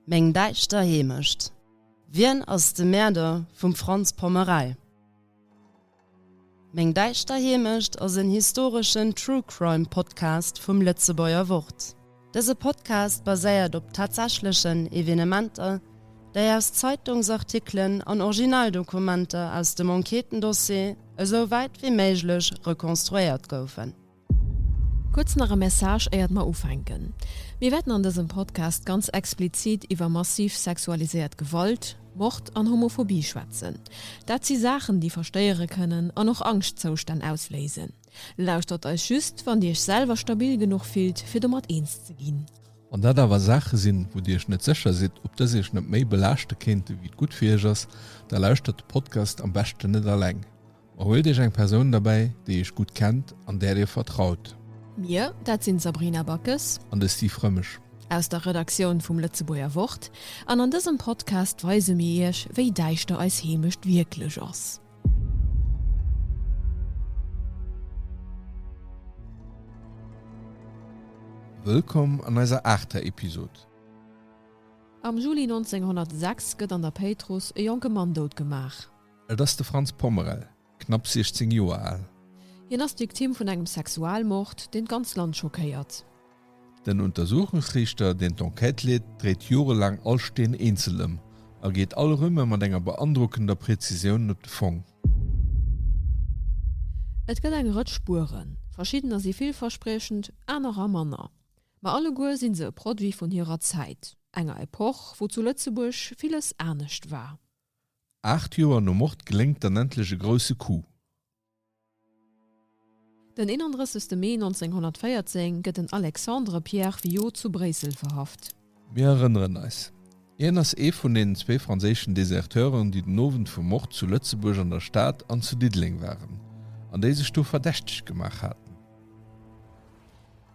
Meng däischter Heemecht. Wien ass de Mäerder vum Franz Pommerei? Meng däischter Heemecht ass en historeschen True Crime Podcast vum Lëtzebuerger Wort. Dëse Podcast baséiert op tatsächlechen Evenementer, déi aus Zeitungsartikelen an Originaldokumenter aus dem Enquêtendossier esou wäit wéi méiglech rekonstruéiert goufen. Kuerz nach e Message éiert mer ufänken. Mir wäerten an dësem Podcast ganz explizit iwwer massiv sexualiséiert Gewalt, Mord an Homophobie schwätzen. Dat si Saachen déi verstéiere kënnen an och Angschtzoustänn ausléisen. Lauschtert eis just wann Dir Iech selwer stabil genuch fillt fir domat eens ze ginn. Wann dat awer Saache sinn, wou Dir Iech net sécher sidd ob dës Iech net méi belaaschte kéinte wéi et gutt fir Iech ass, da lauschtert de Podcast am beschten net alleng. Huelt iech eng Persoun derbäi, déi iech gutt kennt an där dir vertraut. Mir, dat sinn d'Sabrina Backes. An de Steve Rëmesch. Aus der Redaktioun vum Lëtzebuerger Wort. An an dësem Podcast weise mir iech, wéi däischter eis Heemecht wierklech ass. Wëllkomm an eiser aachter Episod. Am Juli 1906 gëtt an der Péitruss e jonke Mann dout gemaach. Et ass de Franz Pommerel, knapp 16 Joer al. Hien ass d'Victime vun engem Sexualmord, deen d'ganz Land schockéiert. Den Untersuchungsriichter, deen d'Enquête leet, dréit jorelaang all Steen eenzel ëm a geet all Rümme mat enger beandrockender Prezisioun op de Fong. Et gëtt eng Rëtsch Spueren. Verschiddener si villverspriechend, anerer manner. Ma alleguer si se e Produit vun hirer Zäit, enger Epoch, wou zu Lëtzebuerg villes anescht war. Aacht Joer no Mord geléngt dann endlech e grousse Coup. Den 31 Mee 1914 gëtt den Alexandre Pierre Viaud zu Bréissel verhaft. Mir erënneren eis, Hien ass ee vun deenen zwee franséischen Deserteuren, déi den Owend vum Mord zu Lëtzebuerg an der Stad an zu Diddeleng waren, an déi sech do verdächteg gemaach haten.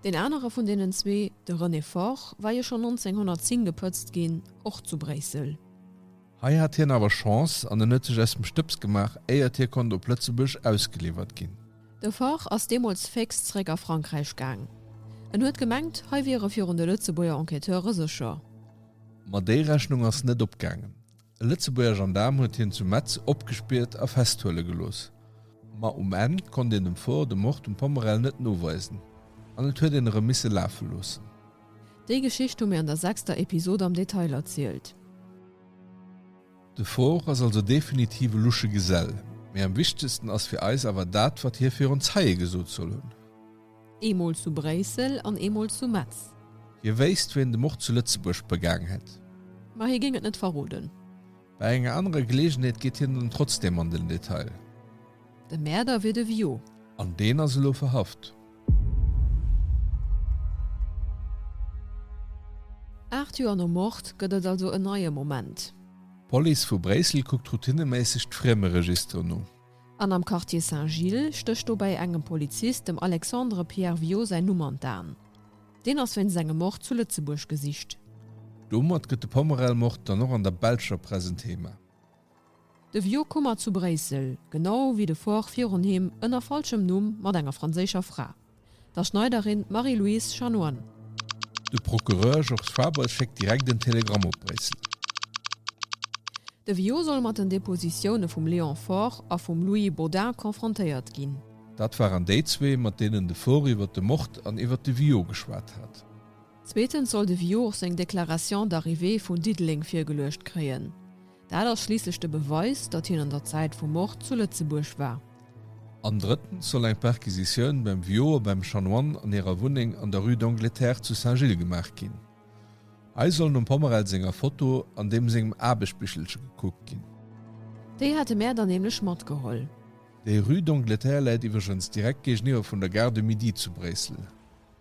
Deen anere vun deenen zwee, de René Faure, war jo schonn 1910 gepëtzt ginn, och zu Bréissel. Hei hat hien awer Chance an en huet sech aus dem Stëbs gemaach, éiert hie konnt op Lëtzebuerg ausgeliwwert ginn. De Faure ass deemools fécks zeréck a Frankräich gaang. En huet gemengt, hei wier e virun de Lëtzebuerger Enquêteure sécher. Ma déi Rechnung ass net opgaangen. E Lëtzebuerger Gendaarm huet hien zu Metz opgespiert a festhuele gelooss. Ma um Enn konnt een dem Faure de Mord um Pommerel net noweisen an et huet een erëm misse lafe loossen. Déi Geschicht hu mir an der sechster Episod am Detail erzielt. De Ford ass also definitiv e lusche Gesell, mee am wichtegsten ass fir eis awer dat, wat hie virun Zeie gesot soll hunn. Eemol zu Bréissel an eemol zu Metz. Hie wéisst, wien de Mord zu Lëtzebuerg begaang hätt. Ma hie géing et net verroden. Bei enger anerer Geleegenheet geet hien dann trotzdeem an den Detail. De Mäerder wier de Viaud. An deen ass elo verhaft. Aacht Joer nom Mord gëtt et also en neie Moment. D'Police vu Bréissel kuckt routineméisseg d'Friemeregisteren u. An am Quartier Saint-Gilles stécht dobäi engem Polizist, dem Alexandre Pierre Viaud, säin Numm an d'Aen. Deen ass wéinst engem Mord zu Lëtzebuerg gesicht. Domat gëtt de Pommerell-Mord dann och an der belscher Press en Thema. De Vieux Kummer zu Bréissel, genau wéi de Fort virun him, ënner falschem Numm, mat enger franséischer Fra, der Schneiderin Marie-Louise Chanoine. De Procureur Georges Fabre schéckt direkt en Telegramm op Bréissel. De Vieux soll mat den Depositioune vum Léon Fort a vum Louis Baudin confrontéiert ginn. Dat waren déi zwee, mat deenen de Faure iwwert de Mord an iwwert de Viaud geschwat hat. Zweetens soll de Viaud och seng Déclaration d'arrivée vun Diddeleng virgeluecht kréien. Dat ass schliisslech de Beweis, datt hien an der Zäit vum Mord zu Lëtzebuerg war. An drëttens soll eng Perquisitioun beim Viaud a beim Chanoine an hirer Wunneng an der Rue d'Angleterre zu Saint-Gilles gemaach ginn. Hei soll nom Pommerell senger Foto an deem sengem Aarbechtbichelche gekuckt ginn. Déi hate mär dann nämlech matgeholl. Déi Rue d'Angleterre läit iwwregens direkt géigeniwwer vun der Gare de Midi zu Bréissel.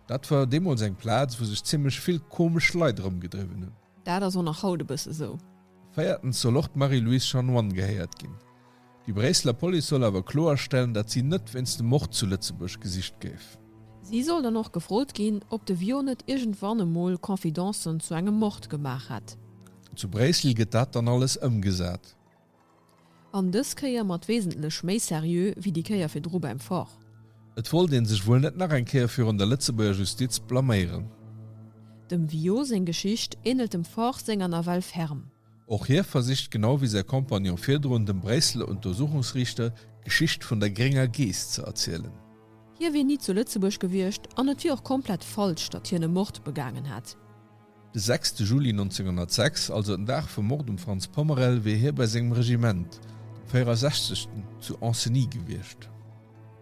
Dat war deemools eng Plaz, wou sech zimmlech vill komesch Leit erëmgedriwwen hunn. Dat ass och nach haut e bësse sou. Véiertens soll och d'Marie-Louise Chanoine gehéiert ginn. Déi Bréisseler Police soll awer kloerstellen, dat si net wéinst dem Mord zu Lëtzebuerg gesicht géif. Si soll dann och gefrot ginn, ob de Viau net iergendwann emol Confidencen zu engem Mord gemaach hätt. Zu Bréissel gëtt dat dann alles ëmgesat. An dës Kéier mat wesentlech méi seriö wéi déi Kéier virdru beim Forrt. Et wollt een sech wuel net nach eng Kéier virun der Lëtzebuerger Justiz blaméieren. Dem Viau seng Geschicht ähnelt dem Forrt senger nawell ferm. Och hie versicht, genau wéi säi Kompagnon virdrun, dem Bréisseler Untersuchungsriichter d'Geschicht vun der grénger Geess ze erzielen. Hie wier ni zu Lëtzebuerg gewiescht an et wier och komplett falsch, datt hien e Mord begaangen hätt. De sechste Juli 1906, also den Dag vum Mord um Franz Pommerel, wier hie bei sengem Regiment, dem 64. zu Ancenis gewiescht.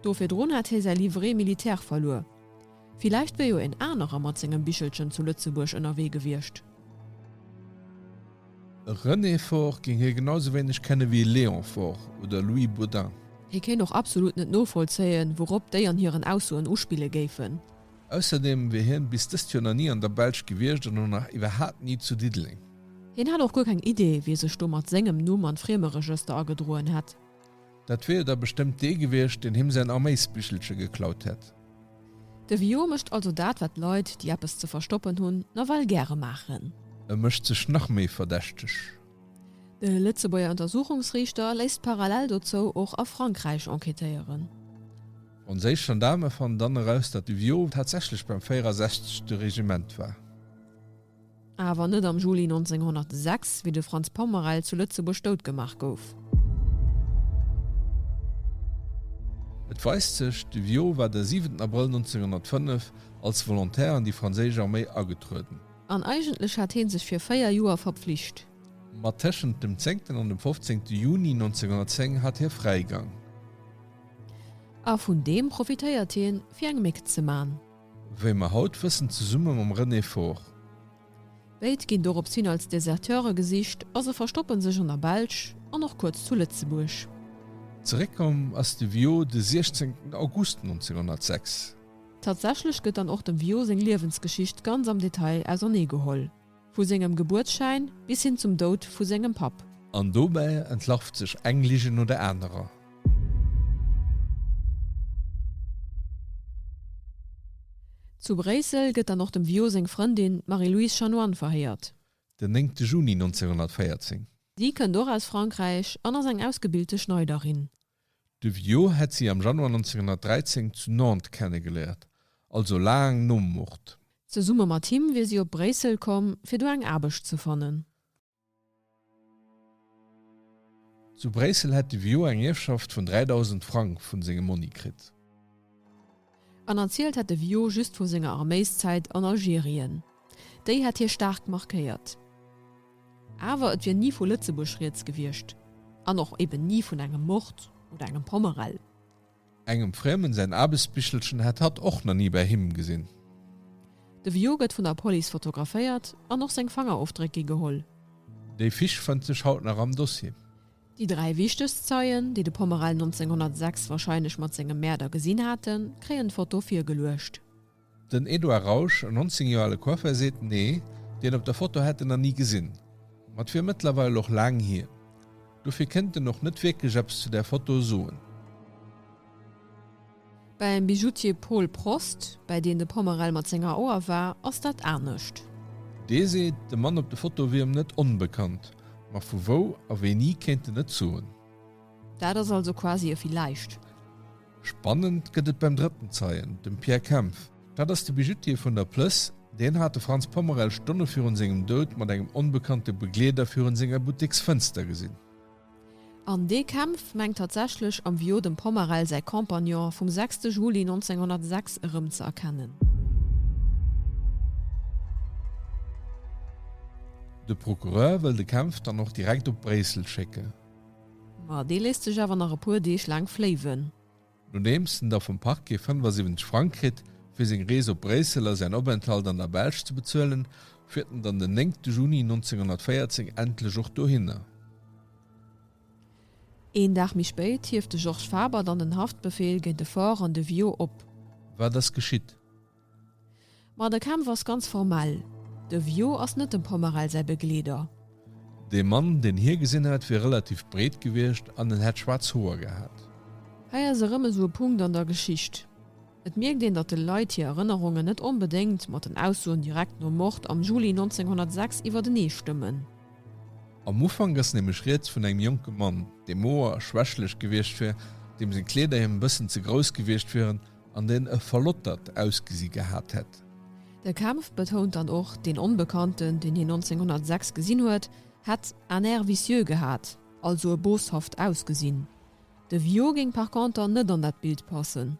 Do virdrun hätt hie säi Livret militaire verluer. Villäicht wier jo een anerer mat sengem Bichelchen zu Lëtzebuerg ënnerwee gewiescht. E René Faure géing hie genau sou wéineg kenne wéi e Léon Faure oder Louis Baudin. Hie kéint och absolut net novollzéien, wourop déi an hiren Aussoen uspille géifen. Ausserdeem wier hien bis dëst Joer nach ni an der Belsch gewiescht an och nach iwwerhaapt ni zu Diddeleng. Hien hätt och guer keng Idee, wie sech do mat sengem Numm an d'Friemeregëster agedroen hätt. Dat wier jo da bestëmmt dee gewiescht, deen him säin Arméisbichelche geklaut hätt. De Villot mécht also dat, wat Leit, déi eppes ze verstoppen hunn, nawell gäre maachen. E mécht sech nach méi verdächteg. De Lëtzebuerger Untersuchungsriichter léisst parallel dozou och a Frankräich enquêtéieren. Onséich Gendaarme fannen dann eraus, datt de Viault tatsächlech beim 64. Regiment war. Awer net am Juli 1906, wéi de Franz Pommerel zu Lëtzebuerg dout gemaach gouf. Et weist sech, de Viault war de 7 Abrëll 1905 als Volontaire an déi franséisch Arméi agetrueden. An eigentlech hat hie sech fir véier Joer verpflicht. Ma tëschent dem 10. an dem 15. Juni 1910 hat hie Fräigang. A vun deem profitéiert hien, fir eng Méck ze man. Wéi mer haut wëssen, zesumme mam René Faure. Béid ginn doropshin als Deserteure gesicht a se verstoppe sech an der Belsch an och kuerz zu Lëtzebuerg. Zeréckkomm ass de Viaud de 16 August 1906. Tatsächlech gëtt dann och dem Viaud seng Liewensgeschicht ganz am Detail auserneegeholl. Vu sengem Gebuertsschäin bis hin zum Doud vu sengem Papp. An dobäi entlarvt sech eng Lige no der anerer. Zu Bréissel gëtt dann och dem Viaud seng Frëndin, d'Marie-Louise Chanoine, verhéiert. Den néngte Juni 1914. Si kënnt och aus Frankräich an ass eng ausgebilte Schneiderin. De Viaud hätt si am Januar 1913 zu Nantes kennegeléiert, also laang nom Mord. Zesumme mat him wier si op Bréissel komm, fir do eng Aarbecht ze fannen. Zu Bréissel hätt de Viaud eng Ierfschaft vun 3.000 Frang vu sengem Monni kritt. An erzielt hätt de Vio just vu senger Arméiszäit an Algerien. Déi hätt hie staark markéiert. Awer et wier ni vu Lëtzebuerg rieds gewiescht an och eben ni vun engem Mord oder engem Pommerell. Engem Friemen säin Aarbechtsbichelchen hätt hatt och na ni bäi him gesinn. De Vio gëtt vun der Police fotograféiert an och seng Fangerofdréck gi geholl. Déi Fisch fënnt sech haut nach am Dossier. Déi dräi wichtegst Zeien, déi de Pomerel 1906 warscheinlech mat sengem Mäerder gesinn haten, kréien d'Foto virgeluecht. Den Edouard Rausch, en 19 Joer ale Coiffeur, seet, Nee, deen op der Foto hätt en nach ni gesinn. Ma et wier mëttlerweil och laang hier. Dofir kéint en och net wierklech eppes zu där Foto soen. Bäim Bijoutier Paul Prost, bäi deen de Pommerell mat senger Auer war, ass dat anescht. Dee seet, de Mann op de Fotoe wier em net onbekannt, ma vu wou a wéini kéint en net soen. Dat ass also quasi e Villäicht. Spannend gëtt et beim drëtten Zeien, dem Pierre Kempf. Dat ass de Bijoutier vun der Plëss. Deen hat de Franz Pommerell Stonne virun sengem Doud mat engem onbekannte Begleeder virun senger Butteksfënster gesinn. An dee kämpft, mengt tatsächlech am Viaud dem Pommerell säi Compagnon vum 6 Juli 1906 erëm ze erkennen. De Procureur wëll de Kämpf dann och direkt op Bréissel schécken. Ma dee léisst sech awer nach e puer Deeg laang fléiwen. Nodeems en da vum Parquet 75 Frang kritt, fir seng Rees op Bréissel a säin Openthalt an der Belsch ze bezuelen, fiert en dann den 9 Juni 1914 endlech och dohinner. Een Dag méi spéit hieft de Georges Faber dann den Haftbefeel géint de Faure an de Viaud op. Wat ass geschitt? Ma de Kämpf ass ganz formell, de Vio ass net dem Pomerel säi Begleeder. Dee Mann, deen hie gesinn hat, wier relativ breet gewiescht an en hätt schwaarz Hoer gehat. Hei ass erëm esou e Punkt an der Geschicht. Et mierkt een, datt de Leit hir Erënnerungen net onbedéngt mat den Aussoen direkt nom Mord am Juli 1906 iwwertenee stëmmen. Am Ufank ass nämlech rieds vun engem jonke Mann, dee moer a schwächlech gewiescht wier, deem seng Kleeder him e bëssen ze grouss gewiescht wieren, an deen e verlottert Ausgesi gehat hätt. De Kempf betount dann och, deen Onbekannten, deen hien 1906 gesinn huet, hätt un air vicieux gehat, also e boshaft Ausgesinn. De Viaud géing par conter net an dat Bild passen.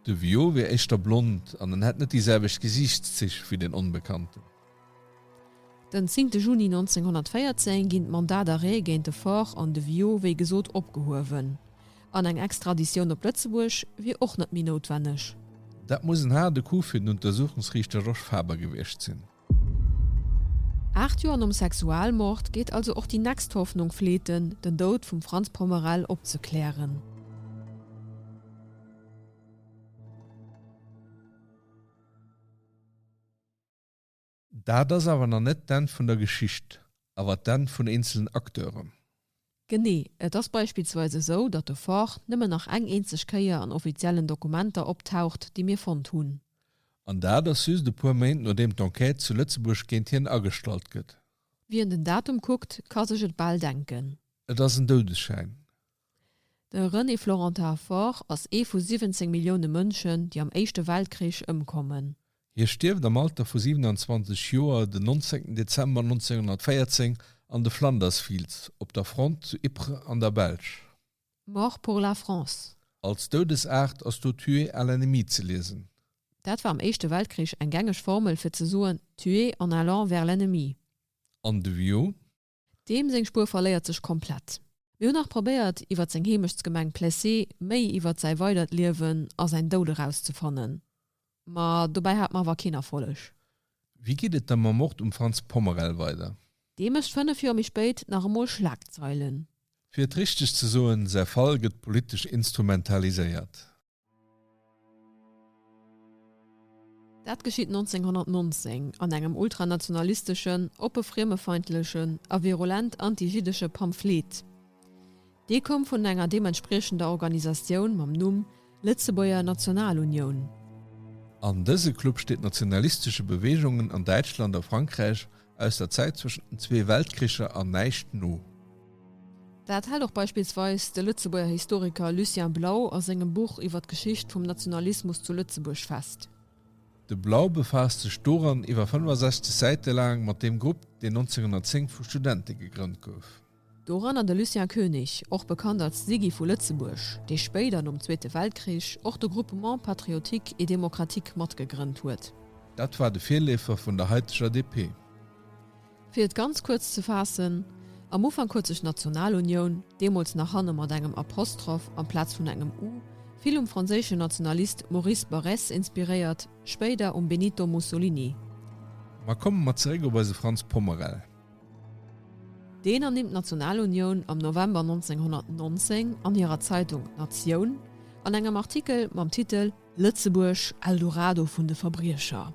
De Viaud wier éischter blond an en hätt net déi selwecht Gesiichtszich wéi deen Onbekannten. Den zéngte Juni 1914 ginn d'Mandat d'arrêt géint de Faure an de Viau wéi gesot opgehuewen, an eng Extraditioun op Lëtzebuerg wier och net méi noutwenneg. Dat muss en haarde Coup fir den Untersuchungsriichter Rosch Faber gewiescht sinn. Aacht Joer nom Sexualmord geet also och déi nächst Hoffnung fleeten, den Doud vum Franz Pommerell opzeklären. Dat ass awer nach net d'Enn vun der Geschicht, awer d'Enn vun eenzelen Acteuren. Genee. Et ass beispillsweis esou, datt de Fort nëmmen nach eng eenzeg Kéier an offiziellen Dokumenter optaucht, déi mir fonnt hunn. An dat ass just e puer Méint nodeem d'Enquête zu Lëtzebuerg géint hien agestallt gëtt. Wien den Datum kuckt, ka sech et bal denken. Et ass en Doudesschäin. De René Florentin-Faure ass ee vu 17 Millioune Mënschen, déi am Éischte Weltkrich ëmkommen. Hie stierft am Alter vu 27 Joer den 19 Dezember 1914 an de Flanders Fields op der Front zu Ypres an der Belsch. Mort pour la France. Als Doudesaart ass do Tué à l'ennemi ze liesen. Dat war am Éischte Weltkrich eng gängeg Formel fir ze soen Tué en allant vers l'ennemi. An de Vieux. Deem seng Spuer verléiert sech komplett. Mir hunn nach probéiert, iwwert seng Heemechtsgemeng Plessé méi iwwert säi weidert Liewen a säin Doud erauszefannen, ma dobäi hat mer awer keen Erfolleg. Wéi geet et da mam Mord um Franz Pommerel weider? Dee mécht fënnef Joer méi spéit nach emol Schlagzeilen. Fir et richteg ze soen, Säi Fall gëtt politesch instrumentaliséiert. Dat geschitt 1919 an engem ultranationalisteschen, oppe friemefeindlechen a virulent anti-jiddesche Pamphlet. Dee koum vun enger deementspriechender Organisatioun mam Numm Lëtzebuerger Nationalunioun. An dëse Club steet nationalistesche Beweegungen an Däitschland a Frankräich aus der Zäit zwëschen den zwee Weltkricher an näischt no. Dat hält och beispillsweis de Lëtzebuerger Historiker Lucien Blau a sengem Buch iwwer d'Geschicht vum Nationalismus zu Lëtzebuerg fest. De Blau befaasst sech doran iwwer 65 Säite laang mat deem Grupp, deen 1910 vu Studente gegrënnt gouf. Doranner de Lucien Koenig, och bekannt als Siggy vu Lëtzebuerg, dee spéider, nom Zweete Weltkrich, och de Groupement patriotique et démocratique matgegrënnt huet. Dat war de Virleefer vun der haiteger DP. Fir et ganz kuerz ze faassen, Am Ufank huet sech d'Nationalunioun, deemools nach hanne mat engem Apostroph amplaz vun engem u, vill um franséische Nationalist Maurice Barrès inspiréiert, spéider um Benito Mussolini. Ma komme mer zeréck op eise Frans Pommerel. Deen ernimmt d'Nationalunioun am November 1919 an hirer Zeitung Natioun an engem Artikel mam Titel Lëtzebuerg, Eldorado vun de Verbriecher.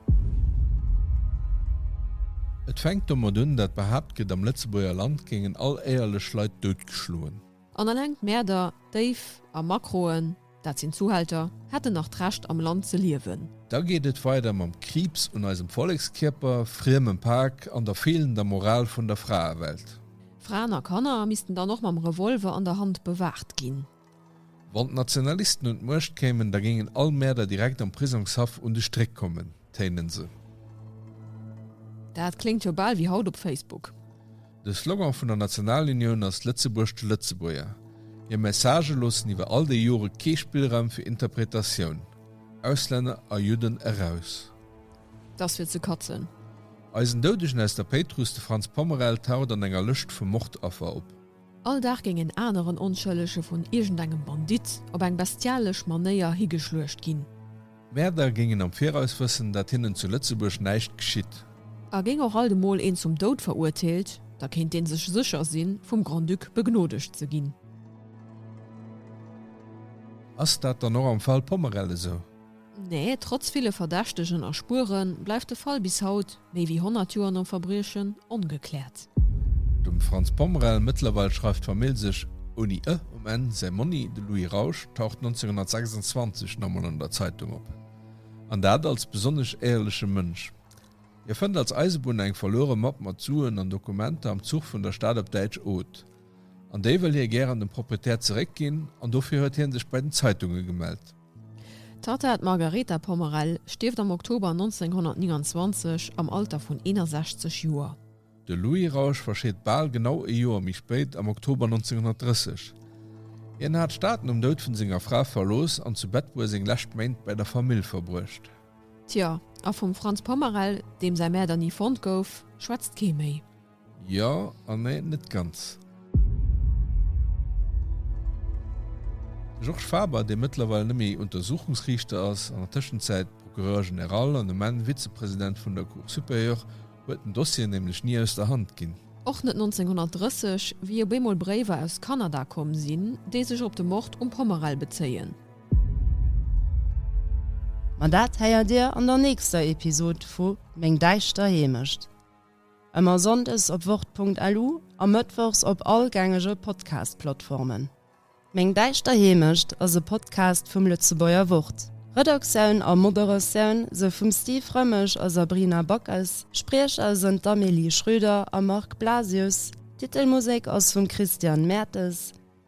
Et fänkt domat un, dat behaapt gëtt, am Lëtzebuerger Land géingen all éierlech Leit doutgeschloen. An eleng d'Mäerder, d'Déif a Makroen. Dat sinn Zuhälter, hätten nach d'Recht am Land ze liewen. Da geet et weider mam Kriibs un eisem Vollekskierper, friemem Pak an der feelender Moral vun der Fraewelt. Fraen a Kanner missten dann och mam Revolver an der Hand bewaacht ginn. Wann d'Nationalisten un d'Muecht kéimen, da géingen all Mäerder direkt am Prisongshaff un de Stréck kommen, téinen se. Dat kléngt jo bal wéi haut op Facebook. De Slogan vun der Nationalunioun ass Lëtzebuerg de Lëtzebuerger. Hir Messagë loossen iwwer all déi Jore kee Spillraum fir Interpretatioun, Auslänner a Judden eraus. T'ass fir ze katzen. Eisen Doudegen aus der Péitruss, de Franz Pommerell, taucht an enger Lëscht vu Mordaffer op. All Dag géing en aneren Onschëllege vun iergendengem Bandit op eng bestialesch Manéier higeschluecht ginn. Mäerder géingen am Viraus wëssen, datt hinnen zu Lëtzebuerg näischt geschitt. A géing och alt emol een zum Doud verurteelt, da kéint dee sech sécher sinn, vum Grand-Duc begnodegt ze ginn. Ass dat dann och am Fall Pommerell esou? Nee, trotz ville Verdächtegen a Spueren, bleift de Fall bis haut, Méi wéi 100 Joer nom Verbriechen ongekläert. Dem Franz Pommerel mëttlerweil schreift d'Famill sech ouni ë um Enn. Säi Monni, de Louis Rausch, taucht 1926 nach emol an der Zeitung op, an dat als besonnesch éierleche Mënsch. Hie fënnt als Eisebunner eng verluere Mapp mat Suen an Dokumenter am Zuch vun der Stad op Däitsch Oth. An déi wëll hie gären dem Proprietär zeréckginn, an dofir huet hie sech bei den Zeitunge gemellt. D'Tatta, d'Margaretha Pommerell, stierft am Oktober 1929 am Alter vun 61 Joer. De Louis Rausch verscheet bal genau ee Joer méi spéit, am Oktober 1930. Hien hat d'Stad nom Doud vun senger Fra verlooss an zu Bettbur seng lescht Méint bei der Famill verbruecht. Tjo, a vum Franz Pommerell, deem säi Mäerder ni fonnt gouf, schwätzt kee méi. Jo an nee, net ganz. De Georges Faber, dee mëttlerweil net méi Untersuchungsriichter ass, an der Tëschenzäit Procureur général an um Enn Vizepresident vun der Cour supérieure, huet den Dossier nämlech ni aus der Hand ginn. Och net 1930, wéi op eemol Bréiwer aus Kanada komm sinn, déi sech op de Mord um Pommerell bezéien. Ma dat héiert Dir an der nächster Episod vu Meng däischter Heemecht. Ëmmer sonndes op wort.lu a mëttwochs op all gängege Podcast-Plattformen. Meng däischter Heemecht ass e Podcast vum Lëtzebuerger Wort. Redaktioun a Moderatioun sou vum Steve Rëmmesch a Sabrina Backes, Spriecher sënn d'Amélie Schröder a Marc Blasius, d'Titelmusek ass vum Christian Mertes,